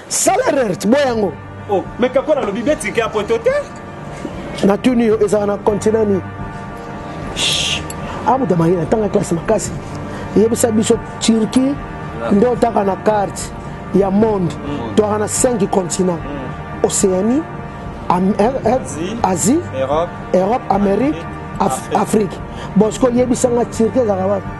sala rert boya yango oh, me kako nalobi betike ya poto te natuni yo ezala na continent nini abuda mayina ntanga classe makasi eyebisa biso turquie nde otaka na carte ya monde mm. toaka na 5 continent mm. océanie asie europe amérique afrique bon sikoyo yebisanga turquie ezalaka wapi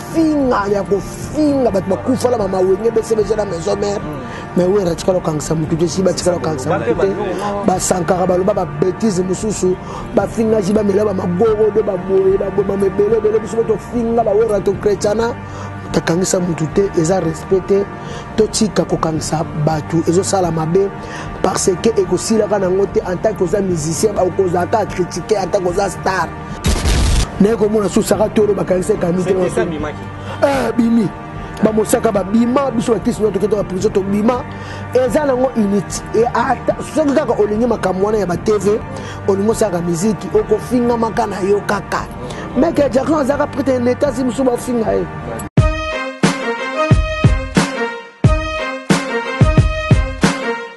kofinga ya kofinga bato bakufa na bamawenge besebeja na maison mare mais oyo atikala kokangisa motu te si batikala kokangisa motu te basankaka baloba babetise mosusu bafingaji bamela bamagorodo baboye babomama ebele ebele biso bo tofinga bawera tokretiana takangisa motu te eza respect te totika kokangisa bato ezosala mabe parce que ekosilaka nango te en tant que oza musicien okozala kaka critique en tant que oza star naye komona susu saka tolo bakanisa ekami te eh, bimi bamosaka babima biso bakristo nyonso tokenda na prizo tobima eza nango unité e ata soki kaka olingi makambo wana ya batv olingi osalaka miziki okofingamaka na yo kaka meke jackson azalaka prete na etasi mosusu bafinga ye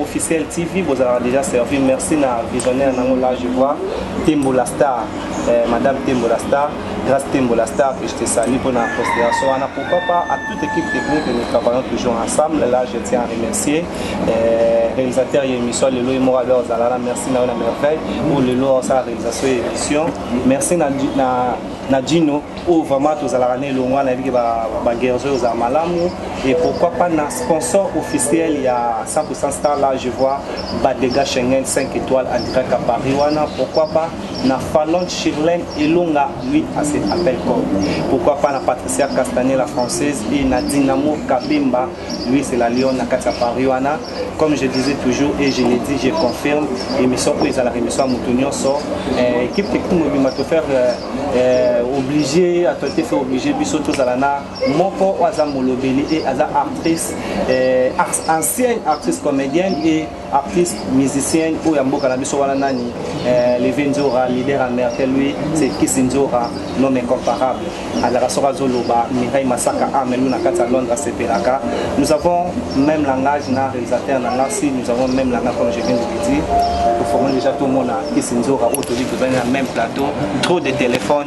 Officiel TV bozalaka deja servi merci na visionnaire nango là je vois Tembo la star eh, madame Tembo la star grâce Tembo la star que je te salue pour la considération ana pourquoi pas à toute équipe technique nous travaillons toujours ensemble là je tiens à remercier eh, réalisateur ya émission lelo ye moko alors ozalala merci na yo na merveille oyo lelo osala réalisation ya émission merci na, na na dino oyo vraiment tozalaka na elongo wana yebike baguerres oyo ozala malamu et pourquoi pas na sponsor officiel ya 100% star là je vois badega schengen 5 étoiles en direct à paris wana pourquoi pas na falonde chirlene elonga lui à cet appel corps pourquoi pas na patricia castanet la française et na dinamo kabemba Louis c'est la Lyon na kati ya Paris wana comme je disais toujours et je le dis je confirme émission oyo ezalaka émission ya moto nyonso euh, équipe technique mobimba to faire euh, euh, obligé ato te fait obligé biso tozala na moko oyo aza molobeli et aza actrice euh, ancienne actrice comédienne et artiste musicien oyo ya mboka na biso wana nani eh, leve nzora leader ya merkel lui c'est kisi nzora nom incomparable alaka soki azoloba mirai masaka amelu na kati ya londres asepelaka nous avons même langage na réalisateur na nga si nous avons même langage comme je viens de le dire toforme déjà tomona kisi nzora oyo toli tozali na même plateau trop de téléphone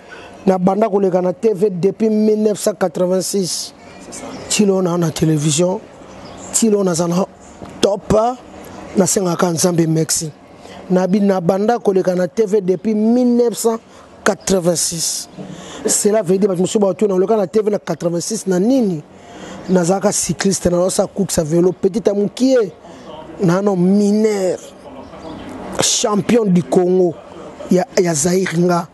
Na banda koleka na TV depuis 1986. Tilo na na television. Tilo na zana top. Na senga ka nzambe merci. Na bi na banda koleka na TV depuis 1986. Cela veut dire batu musuba otu na koleka na TV na 86 na nini? Na zaka cycliste na losa course à vélo petit à mukie. Na no mineur. Champion du Congo. ya, ya Zaire nga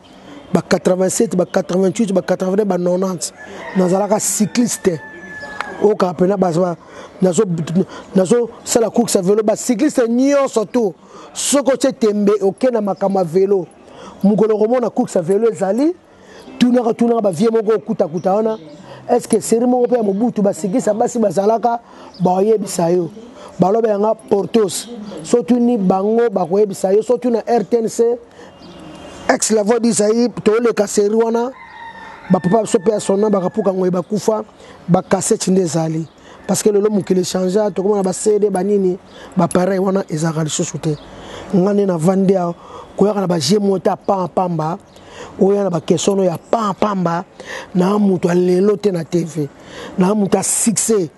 ba 87 ba 88 ba 80 ba 90 nazalaka cycliste oyokaa mpena nazosala course ya velo bacycliste nyonso tour soki otye tembe oke na makambo ya velo mokolo okomona course ya velo ezali tunaka tunaka bavie moko okutakuta wana estce seri moko mpe ya mobutu bacycliste ya basi bazalaka bakoyebisa yo baloba yanga portos sotuni bango bakoyebisa yo sotuna rtnc ex la voix du zaïre toleka série wana bapapa biso mpe ya sonna bakapuka ngoye bakufa bakaseti nde ezali parce que lelo mokili echangea tokomona bacd banini bapareil wana ezalaka lisusu te nga nde navandi awa koyaka na baje moko te apaa pamba oya na bakestion oyo apaa pamba naa moto ya lelo te na tv naa moto ya succès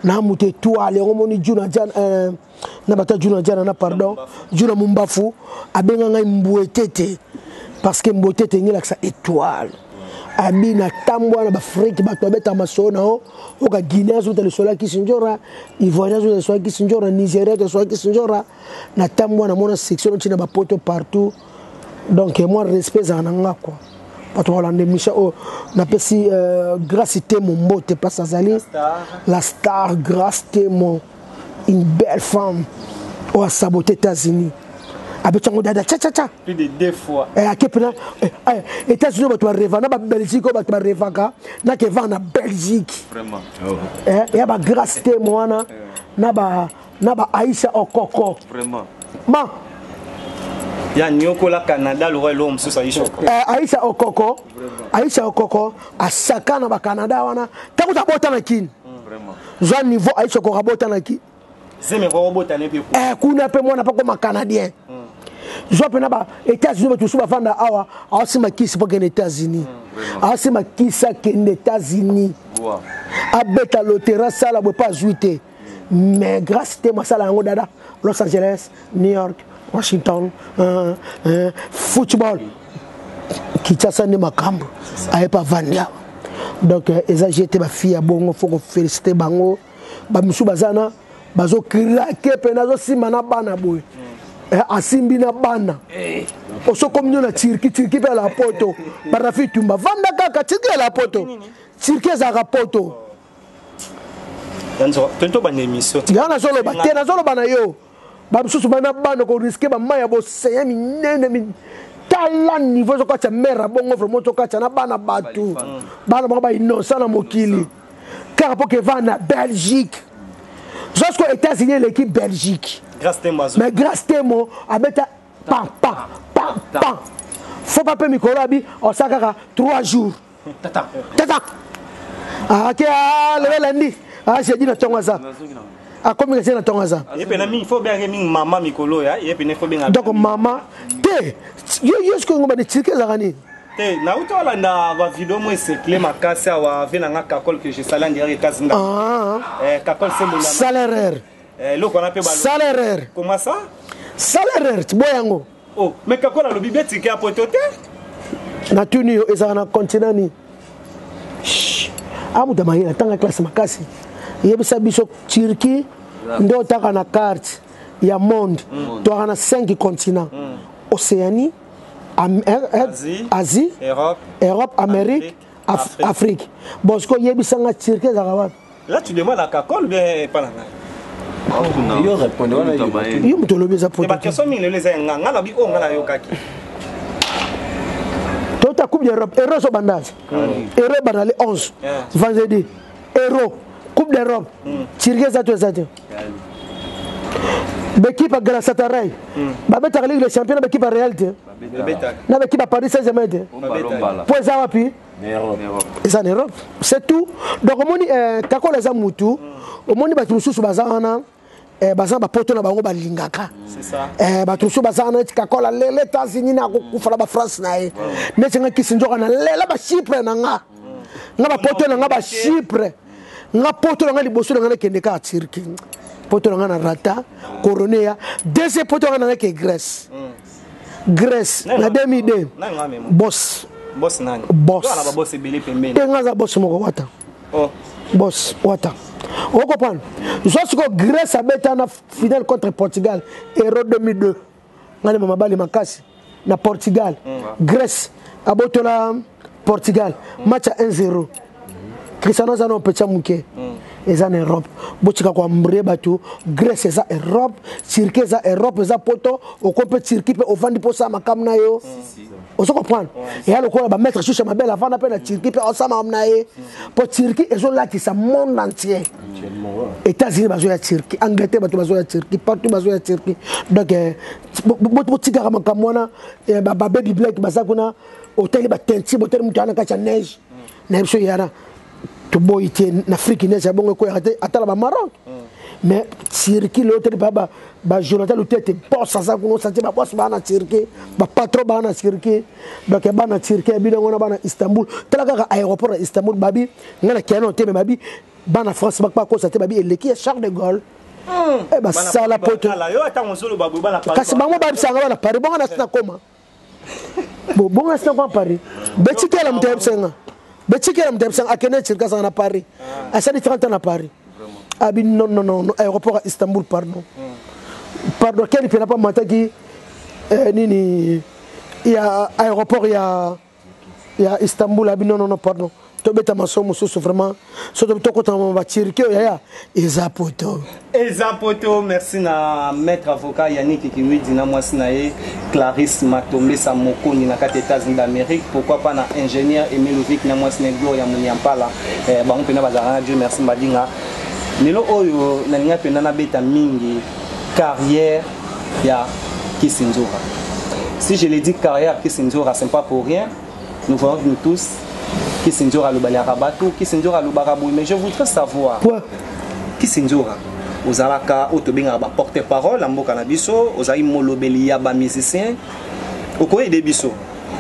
naa moto etoile yango omoni juna jan euh, na bata juna jana na pardon juna mumbafu abenga ngai mbuetete parce que mbuetete engelakisa étoile abi na tambwa na bafrike bato babetaka masolo na yo oka guinée azota lisolo ya kisinjora ivoirien azota lisolo ya kisinjora nigeria azota lisolo ya kisinjora na tambwa namona section noti na bapoto partout donc moi respect ezala na nga kua bato balanda émission oyo napesi euh, grace temo mbote mpasi azali la star grace temo une belle femme oyo asabote états-unis abetango dada tcha tcha tcha plus de deux fois eh ake pena eh, eh, états unis bato bareva na babelgique oyo bato barevaka na keva na belgique vraiment oh. eh, ya bagrace te moana na ba na ba aisha okoko vraiment ma ya niokola canada lokola eloko mosusu aisha eh, aisha okoko aisha okoko asaka na bacanada wana ntango tabota na kini zwa niveau aisha okoka botanaki eh, kuna mpe mwana mpe akoma canadien mm. zwa mpe na ba états-unis bato mosusu bafanda awa aosimba kisi mpo akende états-unis mm, aosimba kisi akende états-unis abeta lotera asala boye mpe azwi te mais grâce te masala yango dada los angeles New York, Washington, euh, euh, football. Kinshasa nde makambo aye pa vandi awa donc euh, eza je te bafille ya bongo fo kofélicité bango bamosusu baza na bazokrake mpe nazosimba na bana boye eh, asimbi na bana eh. osokomi nio na turki turki mpe ya la poto barafi tumba vanda kaka turki ya la poto turki ezalaka poto yango nazoloba te nazoloba na yo ba misusu bana bana ko risque ba mai ya boseya minene min... tala niveau ezokatya mare ya bongo vraiment tokatya na bana bato bana bango ba innocent na mokili kaka mpo keva na belgique jusqu'aux états-unis eleki belgique mais grace temo abeta pam pam pam pam fo pa mpe mikolo abi osala kaka 3 jours Tata. Tata. Ah, ok, ah, le lundi. Ah, j'ai dit na tongo ça. akomi kasi na ntongo aza donc mama te yo yo sikoyo ngomba ni cirke ezalaka nini te nauti olanda bavideo mo esekle makasi awa ave na nga kakol que je sala ndiraka ekasi nga ah. eh, kakol sembolsalaire eh, eloko wana mpe salaire koma sa salaire boyango Oh, mais Kakol alobi betike ya poto te. Natuni yo ezalaka na continent nini? Amuta mayela tanga classe makasi. Yebisa biso Turquie nde otaka na carte ya monde mm. toaka na 5 continent mm. océanie Am er, er, asie, asie europe, europe amérique, afrique, afrique. bosiko yebisanga turquie ezalaka wapi Là tu demandes à Kakol bien pas na ngai. Yo moto olobi eza poto. Ba question mingi lelo eza nga nga na bi o nga na yokaki. Tota coupe d'Europe, Euro so bandaza. Euro banale 11 vendredi. Euro coupe d'Europe. Hmm. Tirge eza to eza te. L'équipe à Galatasaray. Hmm. Ba betaka Ligue des Champions na l'équipe à Real te. Na l'équipe à Paris Saint-Germain te. Po eza wapi? eza na europe c'est tout donc omoni eh, kakola eza mutu omoni bato mosusu baza wana eh, baza na bapoto na bango balingaka eh, bato mosusu baza wana neti kakola lele etats-unis na kokufa na bafrance na ye neti nga kisi nzoka na lela bachipre na nga nga bapoto na nga bachipre nga poto na nga liboso na nga nakende kaka turki poto na nga na rata coroneya deuxième poto na nga nangaki grèce mm. Grèce na demi de boss boss nani boss ana ba boss ebele pembeni te ngaza boss moko wata oh boss wata o comprendre zo siko Grèce abeta na finale contre Portugal Euro 2002 ngani mama bali makasi na Portugal mm. Grèce abotola portugal match ya 1 0 cristiano aza na opecha moke mm. eza na europe botika koambrie bato grèce eza europe turquie eza europe eza poto oko mpe turquie mpe ovandi mpo osala makamu na yo ozo comprendre eya lokola bamaître shusha mabele avanda mpe na turquie mpe osala makamu na ye mpo turquie ezolatisa monde entier états-unis bazoya turquie angleterre bato bazoya turquie partout bazoya turquie donc eh, botikaka makambo wana eh, babebi blake baza kuna otali ba teinture botali moto aa na kati ya neige na biso yara toboyi te na afrique neige ya bongo ekweyaka te atala ba maroc mais circuit leo tete ba ba jonathan lutete boss aza kuna osati ba boss bana circuit ba patron bana circuit donc bana circuit bino ngona bana istanbul tala kaka aéroport ya istanbul babi ngana kiana te mais babi bana france bakpa kosa te babi eleki ya charles de gaulle hmm. eh, basala poto kasi bango babisanga bana paris bongo nasi nakoma bo bonga sina kwa paris betikela moto ya bisenga betikela moto ya bisenga akende cirka azanga na paris ah. asali 30 ans na paris abi ah, non non non aéroport ya istanbul pardon hmm. pardon keni mpe na pa mataki eh, nini ya aéroport ya ya Istanbul abi non non non pardon tobeta maso mosusu vraiment so tokota ma batirki oyo yaya eza poto eza poto merci na maître avocat yannick kiwidi na mwasi na ye clarisse matombesa mokoni na kati ya états-unis d'amérique pourquoi pas na ingénieur emilovik na mwasi na ye gloria muniampala eh, bango mpena bazalaka na dieu merci mbadinga lelo oyo nalinga mpena nabeta mingi carrière ya Kissinzora. Si je le dis carrière Kissinzora, c'est pas pour rien. Nous voyons nous tous Kissinzora alobaliaka batu, Kissinzora alobaka boye, mais je voudrais savoir. Quoi? Kissinzora ozalaka oyo tobengaka ba porte parole ya mboka na biso ozali molobeli ya ba musicien okoyede biso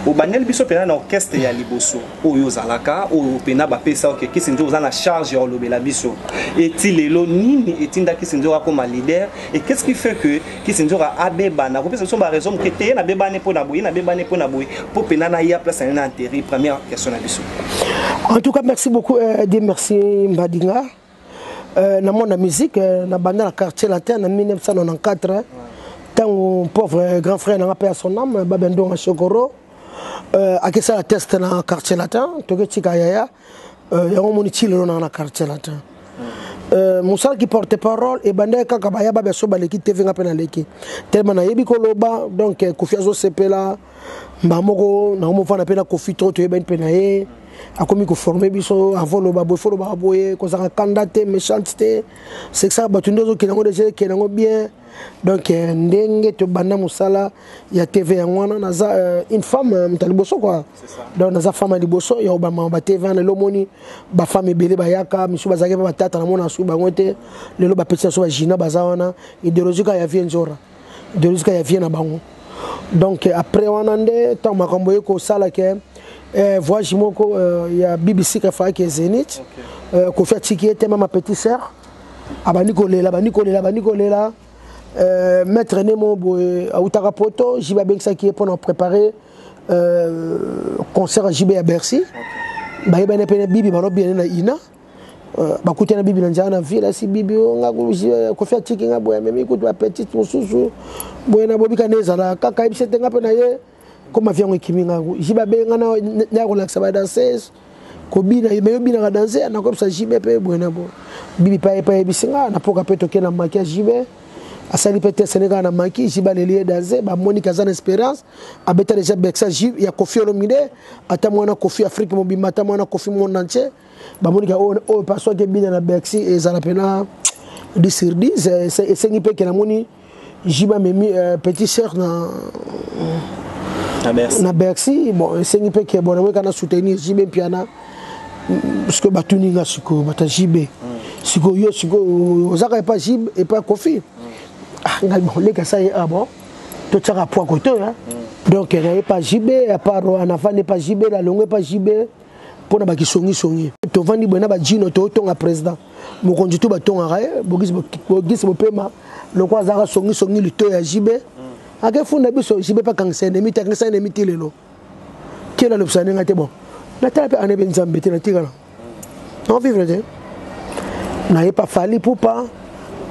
obandeli biso mpena na orchestre ya liboso oyo ozalaka oyo mpena bapesa oke kisinjo oza na charge ya kolobela biso eti lelo nini etinda kisinjo akoma leader et qu'est ce qui fait que kisinjo abebana kopesa biso baraison moke te ye nabebani mpo na boye ye nabebani mpo na boye mpo mpena na ya place na ye na interi première question na biso en tout cas merci beaucoup euh, de merci mbadinga Euh, na monde ya musique euh, na banda na quartier latin na 1994 ntango pauvre grand frère nanga mpe ya son ame babe ndonga shokoro euh, akesala test na quartier latin toketika yaya yango omoni ti lelo nanga na quartier latin mosala ki porte parole ebandaki kaka baya babe so baleki tv nga mpe naleki telema nayebi koloba donc kofi azosepela mbaa moko nakomi ofanda mpe na kofi to toyebani mpe na ye akomi koforme biso avant loba boye fo lobaka boye kozalaka kanda te méchante te sekisaka bato nde ozokende yango deja ekende yango bien donc euh, ndenge tobanda mosala ya tv yango wana naza euh, une femme euh, moto ya liboso kua donc naza femme ya liboso ya obama ba tv wana lelo omoni bafemme ebele bayaka misusu bazalaki mpe batata namona asuki bango te lelo bapetisa so bagina baza wana idéologie kaka ya vie nzora deluska ya vie na bango donc après wana nde ntango makambo ye kosala ke eh, voyage moko euh, ya bbc kafaki zenith okay. euh, kofi atiki ye te mama petit sœur abandi kolela abandi kolela abandi kolela euh, maître nemo boye autaka poto jibe abengisaki ye mpona préparer euh, concert ya jibe ya bercy okay. bayebani mpe na bibi balobi ene na ina Euh, bakutana bibi na nzala na ville asi bibi oyo nga euh, kofi atiki nga boye amemi kutu bapetite mosusu boye na bobika nde ezala kaka yebisi ete nga mpe na ye koma vi yango ekimi nga ji babe nga naya kolakisa badanseuse kobina me yobinaka danse nakoyebisa jibe mpe boye na boye bibi mpe ayepe ayebisi nga na poka mpe toke na maki ya jibe asali mpe teste ne kaka na maki jibe aleli ye danse bamoni kaza na esperance abeta deja bexa jibe ya kofi olomide ata mwana kofi afrique mobimba ata mwana kofi monde entier bamoni ka oyo oyo pa soki ebina na bercy ezala mpena 10 sur 10 eh, ese- esengi mpe ke namoni jiba memi eh, petit sœur na na bercy na bercy bon esengi mpe ke bon namoni ka na soutenir jibe mpiana Mm, sikoyo batuni nga sikoyo bata jibe sikoyo yo sikoyo ozaka epa jibe epa kofi ah ngai bon leka sa ye ah bon totyaka poa kote hein. donc naye epa jibe apart anafani epa jibe nalongo epa jibe mpo na bakisongisongi tovandi boye na bajino totonga président mokonzi tu batongaka ye bogisi bopema lokola azalaka songisongi lito ya jibe akefunda biso jibe mpe akangisa enemi te akangisa enemi ti lelo kela lobisa ndenge te bon natala mpe ane mpe nzambe te natikala non vivre te naye pa fali pupa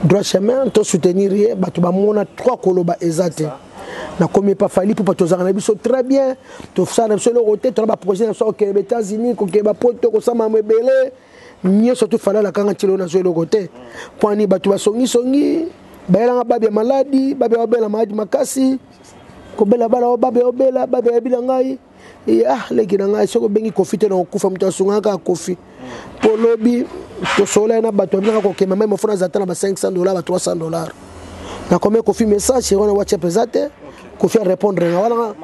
droit chemin to soutenir ye bato bamona trois koloba eza te na komi epa fali pupa tozalaka na biso très bien tosala na biso eloko te tona baprojet na biso kokende ba états-unis kokende bapoto kosala mamo ebele nyonso tu fali alakanga ntilo nazwa eloko te mponi bato basongisongi bayelanga babi ya maladi babi ya babela maladi makasi kobela bala o babi ya obela babi ya yabi na ngai ya leki na ngai soki obengi kofi te na kokufa moto asungaka kaka kofi mpo lobi tosolola ye na bato babinaka kokema mai mofona aza ata na ba 500 dollar ba 300 dollar nakomi kofi message seri wana whatsapp eza te kofi arépondre nga wana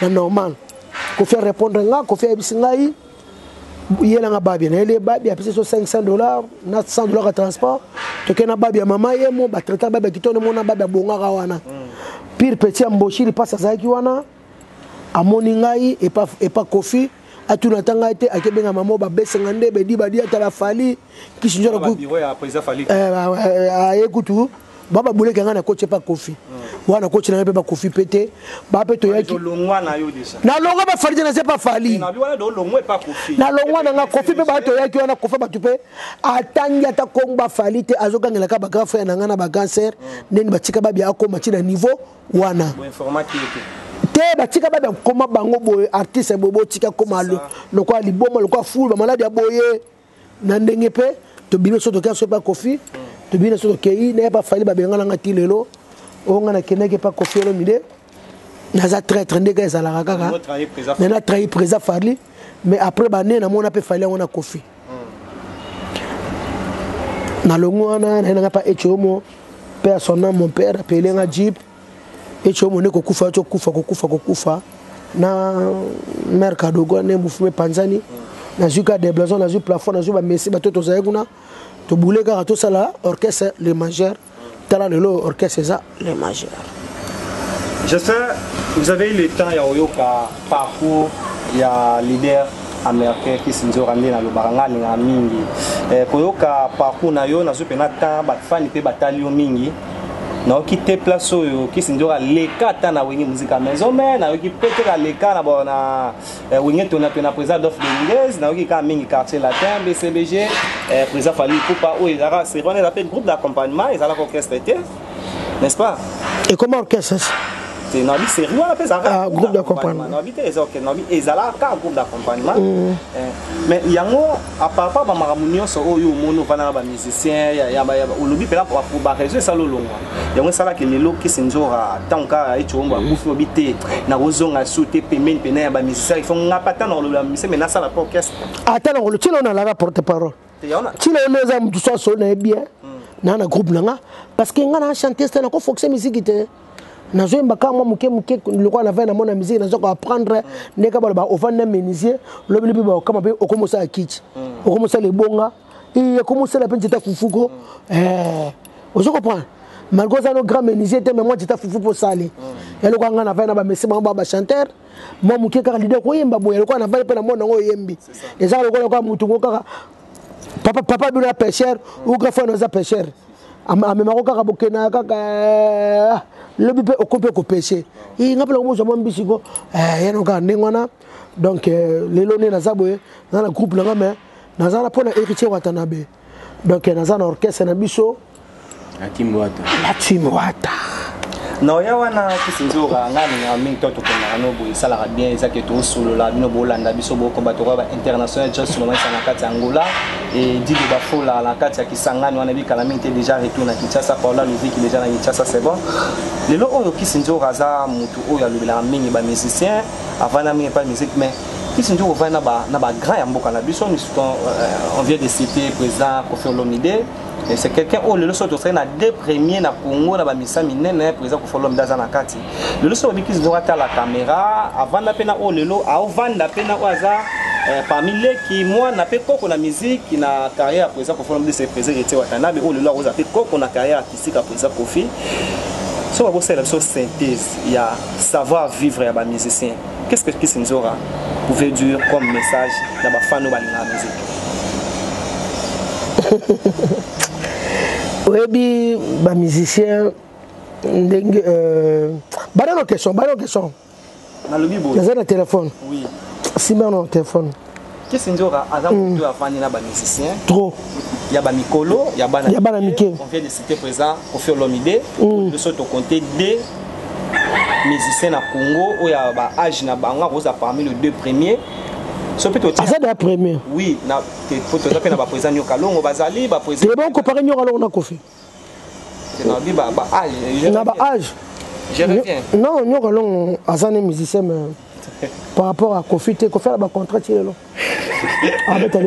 na normal kofi arépondre nga kofi ayebisi ngai yelanga babi nayeli ye babi apesi so 500 dollar na 100 dollar ya transport tokei na babi ya mama ye mo batraitaka babi ya kitoko nde mona babi abongaka wana mm. pire petit ya mboshiri mpasi azalaki wana amoni ngai epa, epa kofi atuna ata ngai te ake benga mama ba bese nga nde bedi badi atala fali kisi njo na aye kutu ba ba buleke nga na koti epa kofi wana koti na ngai mpe ba kofi mpe te ba mpe toyaki na longwa ba fali te na se pa fali na longwa na nga kofi mpe ba toyaki wana kofa bato mpe atangi ata kongo ba fali te azogangela ka ba grand frère na nga na ba grand sœur ndeni batika babia akoma ti na niveau wana te batika bada koma bango boye artiste boye botika koma lokola liboma lokola fulu bamaladi ya boye na ndenge mpe tobimi so tokia so epa kofi mm. tobimi so tokei naye epa fali babengana nga ti lelo oyo nga nakendaki epa kofi olomide naza traitre ndenge ezalaka kaka me na trahi présa farli mais après bane namona mpe fali yango na kofi nalongi wana naye nanga mpa ecomo mpe ya son ame mon père apele nga jeep ecomo nde kokufa yo cokufa kokufa kokufa na mare kadogo nde mofumu epanzani nazwi ka deblason nazwi plafond nazwi bamesi bato tozali kuna tobule kaka tosala orchestre le majeur tala lelo oyo orchestre eza le majeur Justin, vous avez eu le temps ya koyoka parcours ya leader américain kisinzora nde nalobaka ngai alingaka mingi eh, koyoka parcours na yo nazwi mpena temps bafani mpe batali yo mingi nayoki te place oyo kisinzora leka ata na wenge muzika maison me nayoki mpe te na leka na Eh, wenge tona tona président adolphe dominguez nayoki kaka mingi quartier latin bcbg eh, président fali kupa oyo ezalaka seri wana eza mpe groupe d'accompagnement ezalaka orchestre te n'est-ce pas ekoma orchestre te nabi seri wana mpe ezalaka ah, groupe d'accompagnement nabi te ezalaka groupe d'accompagnement mm. eh, mais yango a part pas ba makambo nyonso oyo oh, omoni ovanda na ba musicien ya ya olobi pela pour ba raison esala olongwa yango esalaki lelo kisi nzora ntango kaka ecombo mhm. akufi obi te nakozonga su te pembeni pena ya ba musicien il faut nga pa ata na kolobela mise me nasala po orchestre ata na kolo tino nalaka porte parole tino yo eza motu so asolo na ye bien hmm. na na groupe na nga parce que nga na chantier te nakofoxe miziki te nazo yemba kaka mwa moke moke lokola na vai na mona miziki nazo koapprendre ndenge kaka baloba ovandi na menisier lobi lobi baokama mpe okomi osala kiti mm. okomi osala ebonga iye okomi osala mpe nzeta fufuko mm. eh, ozo comprendre malgré oza no grand menisier te mais mwa nzeta fufu mpo osali mm. eloko anga na vai na bamesi bango ba bachanteur mwa moke kaka lide koyemba boye lokola na vai mpe na mona yango oyembi ezaka lokola lokola motu ngo kaka papa bino ya pêcheur ou grand frère oza pêcheur amemako kaka bokena kaka eh, lobi mpe oko mpe kopeshe i nga mpe nango mozwa mwa mbisi ko eh, yano kaka ndenge wana donc eh, lelo nde naza boye naza na groupe nanga mai naza na mpo na héritier watanabe donc naza na orchestre na biso la team wata la team wata na oya wana kisi nzoka ngai ningaka mingi to tokendaka no boye esalaka bien eza ke tosolola bino bolanda biso bokoba tokoya ba international just lomaisa na kati ya angola et dit de Bafola na kati ya Kisangani wana bikala mingi te déjà retour na Kinshasa Paola Luviki déjà na Kinshasa c'est bon lelo oyo Kisi Nzora aza mutu oyo alobelaka mingi ba musiciens avanda mingi pa musique mais Kisi Nzora ovandi na ba na ba grand ya mboka na biso euh, on vient de citer président Koffi Olomide c'est quelqu'un oyo lelo soki tosali na deux premier na Congo na ba misa minene président Koffi Olomide aza na kati lelo soki obikisi nzoka tala kamera avanda mpe na oyo lelo aovanda mpe na oyo aza eh, parmi leki mwana mpe koko na miziki na carrière ya président kofi olomide se président héritier watanabe oyo lelo akozala mpe koko na carrière artistique ya président kofi soki bakosalela biso synthèse ya savoir vivre ya bamusicien qu'est ce que kisi nzora pouvait dire comme message na bafani oyo balingaka miziki oyebi bamusicien ndenge euh, bana no question bana no question nalobi boye naza na telefone oui simba na telefone kisi nzoka aza mm. moto afandi na bamusicien trop ya bamikolo ya bana ya bana mike on vient de citer présent kofi olomide mm. biso tokonte de musicien na congo oyo ya baage na bango akozala parmi le deux premier so mpe aza da premier oui toza mpe na baprésent nyoka longo bazali baprésent te baokompare nyoka longo na kofi na ba age non nyoka longo aza ne musicien mais par rapport à kofi te kofi ala ba contrat ti lelo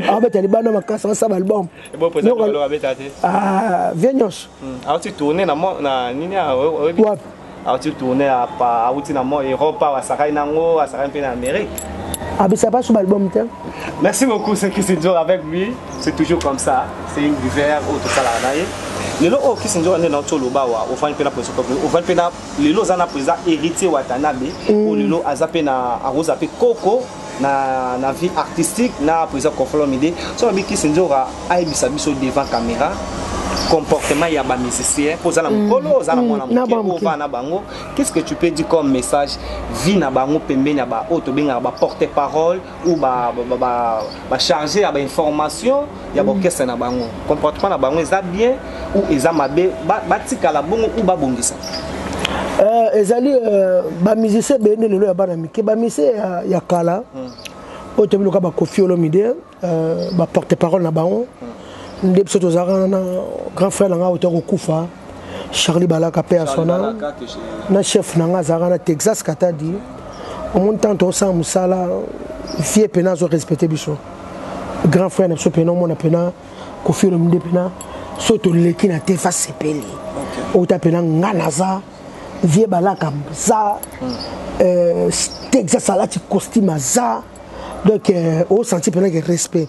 abeta libanda makasi asa baalbum vie nyonso wapi auti tourne auti na mo europe awa asakani na yango asakani mpe na amérique abisa baso baalbum te merci beaucoup c'est kisinzor avec lui c'est toujours comme ça c'est une divers oyo tosalaka na ye lelo oyo kisinzor nde nauti oloba wa ofandi mpe na presokope ofandi mpe na lelo oza na président héritier watanabe oyo lelo aza mpe na akozala mpe koko na, na vie artistique na président Kofolomide so alobi kisi nzoka ayebisa biso devant caméra comportement ya ba musicien mpo oza na mokolo oza na mwana moke ova na bango qu'est-ce que tu peux dire comme message vie na bango pembeni ya baoyo tobengaka ba porte parole ou bacharge ba, ba, ba ya bainformation ya mm. orchestre na bango comportement na bango eza bien ou eza mabe batikala ba bongo ou babongisa euh, ezali euh, bamusicien ebele nde lelo ya bana mike bamusicien ya, ya kala mm. oyo toyebi loka bakofi olomide euh, baporte parole na bango mm. nde biso tozalaka na grand frère na ngai oyo tokokufa charlie balaka paix à son âme na chef na nga azalaka na texas katadi omoni ntango tokosala mosala vie mpena azo respecte biso grand frère na biso mpena omona mpena kofi olomide mpena so toleki na te fa sepeli outa mpena nga naza vie balaka za hmm. euh, texas alati costume aza donc euh, osanti mpena ke respect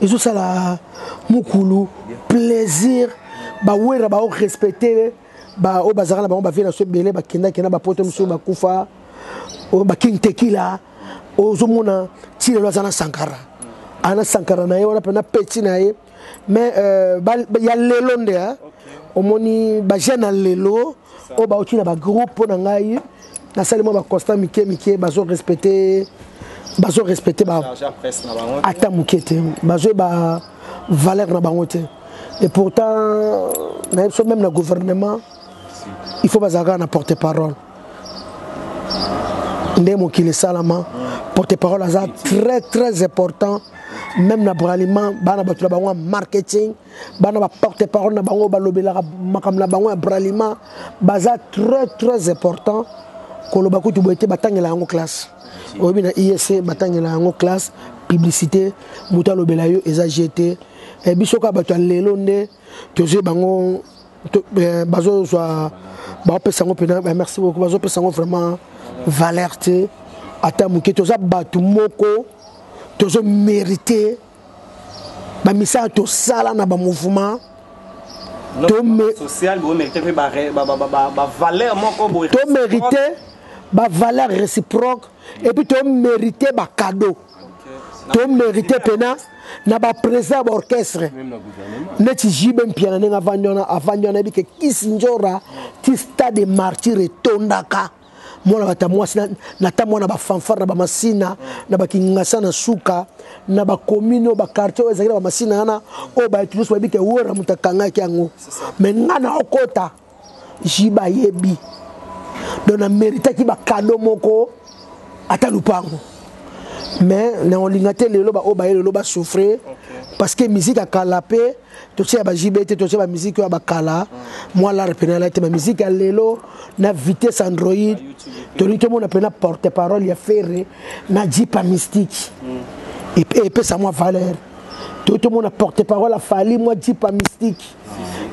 ezosala mukulu plaisir bawera bao respecte baoyo bazalaka na bango bavie na so ebele bakendaki na bapoto mosusu bakufa oyo baking tekila ozomona ti lelo aza na sankara ana sankara na ye wana mpe na peti na ye mais euh, ya lelo nde omoni bajeune ya lelo oyo bauti na bagroupe mpo na ngai nasali mwa baconstat mike mike bazo respecte bazo respecte ata moke te bazwi ba valeur na bango te et pourtant nayebi biso meme na gouvernement il faut bazala kaka na porte parole nde mokili esalama porte parole aza très très important même na braliment bana bato na bango ya marketing bana ba porte parole na bango balobelaka makambo na bango ya bralima baza très très important koloba kutu boye te batangela yango classe oyebi na iec batangela yango classe publicité moto alobela yo eza je te eh, biso kaka bato ya lelo nde tozwi bango eh, bazozwa baopesa yango mpena eh, merci beaucoup bazopesa yango vraiment valeur te ata moke toza bato moko tozo mérite ba misala to sala na ba mouvement to me social bo mérite pe ba ba ba ba, ba valeur moko bo to mérite ba valeur réciproque et puis to mérite ba cadeau to mérite pena na ba président ba orchestre neti JB Mpiana ndenge avandi wana avandi wana yebi ke Kisindjora ti stade martyr etondaka mwana bata mwasi nata mwana bafanfare na bamasina na bakingasa na suka na bakomine oyo bakartier oyo ezalaki na bamasina wana oyo bato nyonso bayebi te wera moto akangaki yango me ngai na okota jiba ayebi donc na meritaki bakado moko ata lupango me naolinga te lelo baoyo baye lelo basouffre parce que miziki akala mpe totia ba JB te totia ba musique ya bakala mwa lar pena ala te ba musique ya lelo na vitesse android tolingi tomona pena porte parole ya ferre na jipa mystique epesa mwa valeur toyi tomona porte parole afali mwa jipa mystique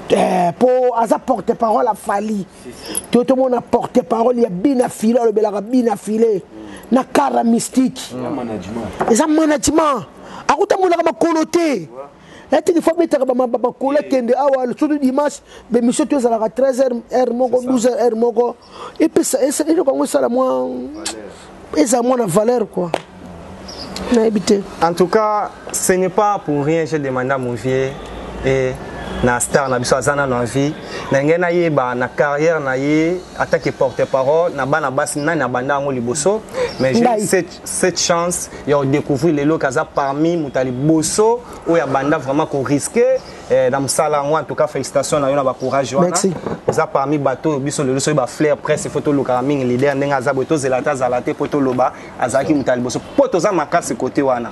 eh, po aza porte parole afali toyi tomona porte parole ya bina file alobelaka bina file na kara mystique eza management akutambolaka makolo te yatiki fo abetaka bakola kende awa surtout dimanche bemission to ezalaka 13 heure heure moko 12 heure heure moko epesa eloko yango esala mwa ezala mwana valeur quoi nayebi te en tout cas ce n'est pas pour rien j'ai demandé à mon vieux et na star na biso aza nano na vie na ngai nayeba na carrière na ye atake porte parole na bana basi nani abanda yango liboso mais je sais cette chance ya kodecouvrir lelo ke aza parmi moto ya liboso oyo abanda vraiment koriske eh, na mosala yango en tout cas félicitation na yo na bacourage wana oza parmi bato oyo biso lelo soki baflair presse ifo tolukaka mingi leader ndenge aza boye tozela ata azala te mpo toloba azalaki moto ya liboso mpo toza makasi kote wana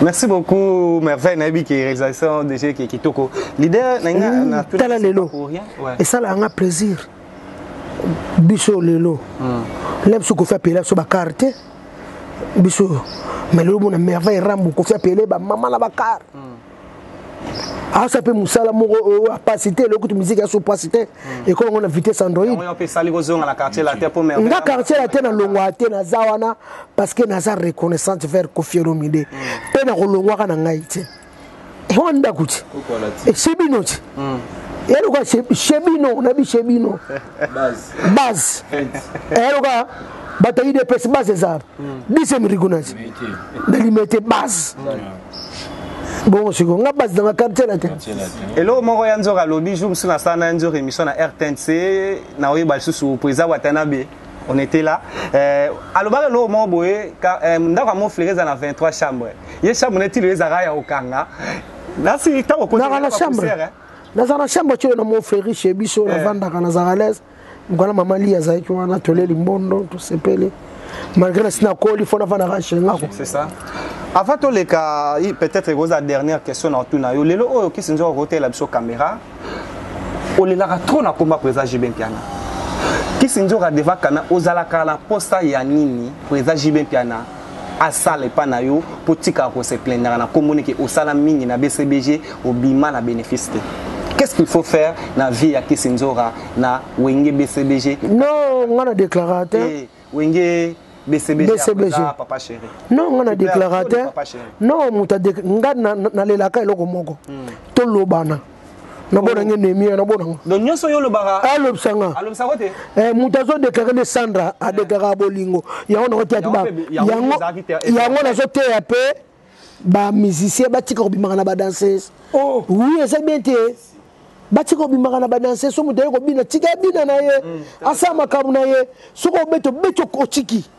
Merci beaucoup Merveille nayebi ke réalisation déjà ke kitoko. Leader na nga na tout tala lelo. Esala nga plaisir. Biso lelo. Hmm. Lem su ko fa pela so ba carte. Biso mais lelo mona Merveille Rambo ko fa pela ba maman na ba carte. Hmm. asa mpe mosala moko oyo apasi te eloko kutu miziki ya so pasi te hmm. ekolo yango na vitesse android nga quartier latin nalongwaka te naza wana parce que naza reconnaissante vers kofielomide mpe hmm. nakolongwaka na ngai te ewa ndako ti esi bino ti eloko ya shebino na bishebino base eloka eh, bato ya udps base eza deuxième rigonage na limete base bongo siko nga base na bakartier na te eloko moko ya nzoka alobi jour mosusu nasala na ya nzoka émission na rtnc naoyeba lisusu po eza watanabe on était là euh, alobaka eloko moko boye euh, ndako ya moflere eza na 23 chambre ye chambre neti lelo ezalaka ya kokanga nasi ntango okoaa na chambre naza na chambre ti oyo na mon freri chez biso eh. navandaka nazaka alaise mokana mama li azalaki wana toleli mbondo tosepeli malgré nasi nakoli fo navandaka chez ngako avant toleka peut-être ekozala dernière question na otuna yo lelo oyo kisi nzoka kotela biso caméra olelaka trop na komba président jb mpiana kisi nzoka devant kana ozalaka na posa ya nini président jb mpiana asala epa na yo mpo otikaka ko se plaindre na kombo neke osala mingi na bcbg obima na benefice te qu'est-ce qu'il faut faire na vie ya kisi nzora na wenge bcbg non nga na declara te eh, wenge bcbg papa chéri non nga na declara te non moto nga nalelaka eloko moko hmm. tolobana nabona nge nemi ya nabona ngo donc nyonso yo olobaka alobisa nga alobisa ko te eh mutu azo déclarer nde Sandra a eh. déclarer bolingo yango na kotia tiba yango yango nazo teya pe ba musiciens batika kobimaka na ba danseuses oh oui eza bien te batika kobimaka na badanse so moto aye kobina tika abina na ye mm. asala makambo na ye soki obeti obeti otiki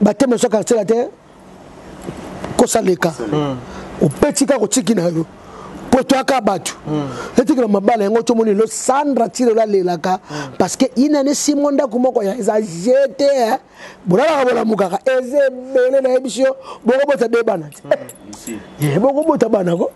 bateme soki atyela te kosa leka hmm. opeti kaka otiki na yo mpo toyaka bato hmm. etikela mabala yango tomoni lo sandra tilola alelaka hmm. parce que inane simo ndako moko ya eza jete eh. bolalaka bolamukaka eza ebele nayebisi yo bokobota de bana te eh, bokobota bana ko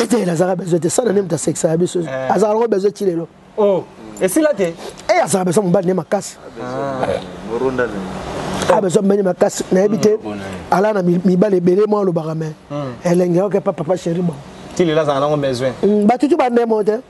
ete nazalaka besoin te sana nde moto asekisaka biso eh. azalaka nango besoin ti lelo oh, esila te e eh, azalaka besoin mobali ne makasi abesoin ah, mobali makasi nayebi te hmm, ala na mibali ebele mwa olobaka me hmm. elenge okepa papa chéri bango ti lelo azalaka nango besoin hmm, batutu bandemo te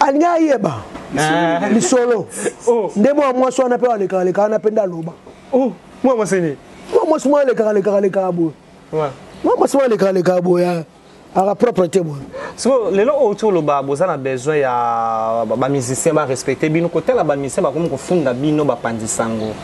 alingi ayeba ah. lisolo oh. nde mwana mwasi wana mpe alekaleka wana mpe nde aloba oh. mwana mwasi nini mwana mwasi mwana alekakalekaleka boye mwana mwasi mwana alekakalekaa boye ah. aka propre te boye siko lelo oyo ti oloba boza na besoin ya bamusicien barespecte bino kotala bamusicien bakomi kofunda bino bapanzi sango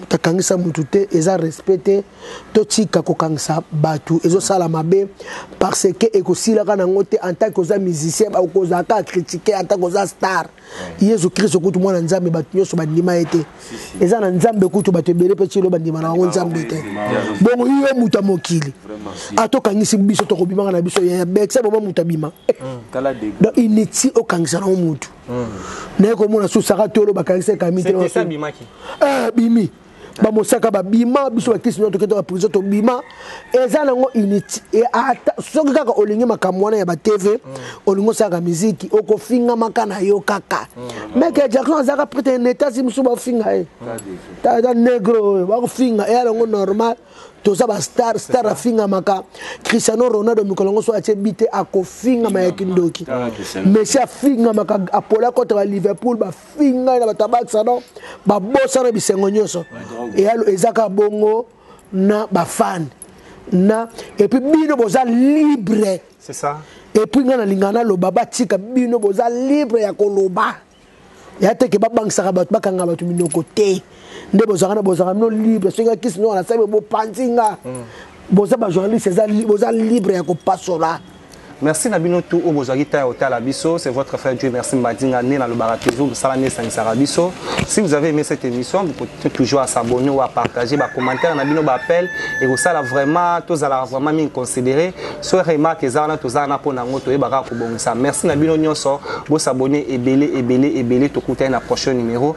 moto akangisa moto te eza respect te totika kokangisa bato ezosala mabe parce que ekosilaka nango te en tant que oza musicien okozala kaka critique en tant que oza star yesu kristo kutu mwana nzambe bato nyonso bandima ye te eza na nzambe kutu bato ebele mpe cilo bandima na bango nzambe te bongo yo moto ya mokili atokangisi biso tokobimaka na biso ya bekisa boma moto abima donc inutile okangisa nango motu naye komona su saka tolo bakangisa ekami te eh, bimi bamosaka babima biso bakisi nio toketaka prison tobima eza nango unité e, soki kaka olingi makambo wana ya batv mm. olingi osalaka miziki okofingamaka na yo kaka mm. meke jackson azalaka prete netasi mosusu bafinga ye ta negro oyo bakofinga eya nango normal toza ba star star afingamaka cristiano ronaldo mikolo yango so atie bite akofingama ya kindoki ah, messi afingamaka apola kota ba liverpool bafinga ye na batabakisa no babosana bisengo nyonso eyalo eza kaka bongo na bafane na epuis bino boza libre epuis ngai nalingaka naloba batika bino boza libre ya koloba ya te ke babangisaka bato bakanga bato minoko te nde bozwaka na bozwaka bino libre soki nga kisi noko nasali bopanzi nga mm. boza bajournaliste boza libre ya kopasola merci na bino tout oyo bozwaki ntango ya kotala biso c'est votre frère dieu merci mbadinga nde nalobaka toujours mosala nde esangisaka biso si vous avez aimé cette émission bokoki toujours à s'abonner ou à partager bacommentaire na bino baappel ekosala vraiment tozalaka vraiment mingi considéré Soit remarque eza wana toza na pona ngo toyeba kaka kobongisa. Merci na bino nyonso, bo s'abonner ebele ebele ebele tokutani na prochain numéro.